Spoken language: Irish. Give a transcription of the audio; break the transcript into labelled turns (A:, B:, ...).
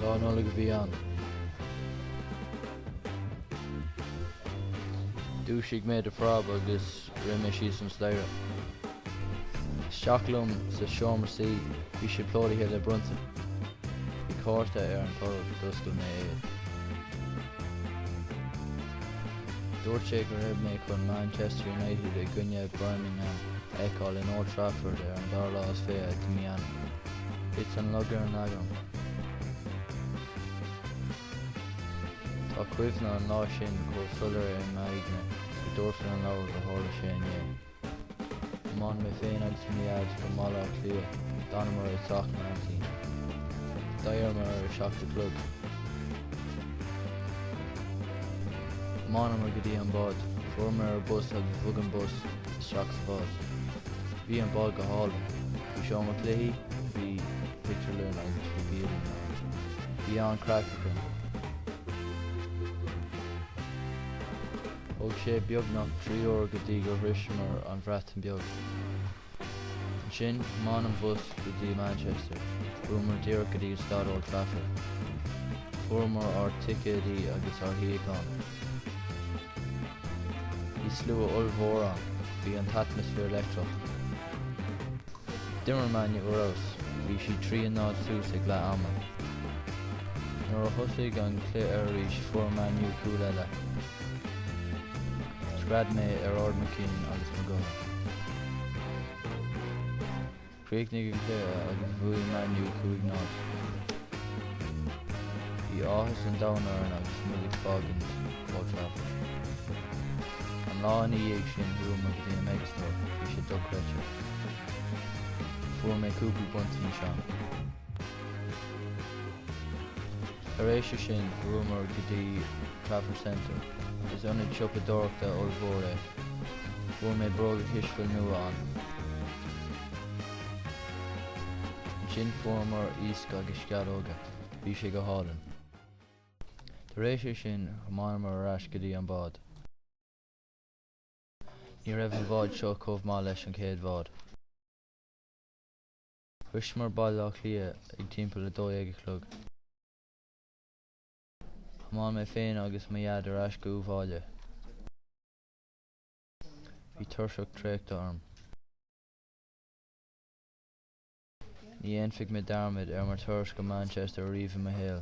A: Lá Nollag a bhí ann. Dhúisigh mé de phreab agus rith mé síos an staighre. Isteach liom sa seomra suí. Bhí sé plódaithe le bronntanais. Bhí cárta ar an tolg. D'oscail mé é. Dúirt sé go raibh mé chun Manchester United i gcoinne Birmingham a fheiceáil in Old Trafford ar an dara lá is fiche de mhí Eanáir. Thit an lug ar an lag agam. Tá cuimhne an lá sin chomh soiléir i m'aigne go dtabharfainn an leabhar gur tharla sé inné. Thiomáin mé féin agus mo Dhaid go Baile Átha Cliath, d'fhanamar i dteach m'aintín. D'éiríomar ar a seacht a chlog. Thiomáineamar go dtí an bád, fuaireamar ar bus agus bhog an bus isteach sa bhád. Bhí an bád go hálainn. Bhí seomra cluichí, bhí pictiúrlann agus bhí bialann ann. Bhí an-craic againn. Thóg sé beagnach trí uair go dtí gur shroiseamar an Bhreatain Beag. Ansin, thiomáin an bus go dtí Manchester. Chuamar díreach go dtí staid Old Trafford. Fuaireamar ár ticéadaí agus ár shuíocháin. Bhí slua ollmhór ann. Bhí an t-atmaisféar leictreach. D'imir Man U ar fheabhas. Bhí siad trí a náid suas ag leath ama. Nuair a thosaigh an cluiche arís fuair Man U cúl eile. Scread mé in ard mo chinn agus mo ghutha. Chríochnaigh an cluiche agus bhuaigh Man U cúig náid. Bhí áthas an domhain orainn agus muid ag fágaint Old Trafford. An lá ina dhiaidh sin chuamar go dtí an Megastore, bhí sé dochreidte. Fuair mé cúpla bronntanas ann. Tar éis é sin chuamar go dtí Trafford Centre. Is ionad siopadóireachta ollmhór é. Fuair mé bróga cispheile nua ann. Ansin fuaireamar iasc agus sceallóga. Bhí sé go hálainn. Tar éis é sin thiomáineamar ar ais go dtí an bád. Ní raibh an bhád seo chomh maith leis an chéad bhád. Shroiseamar Baile Átha Cliath ag timpeall a dó dhéag a chlog. Thiomáin mé féin agus mo Dhaid ar ais abhaile. Bhí tuirse traochta orm. Ní dhéanfaidh mé dearmad ar mo turas go Manchester riamh i mo shaol.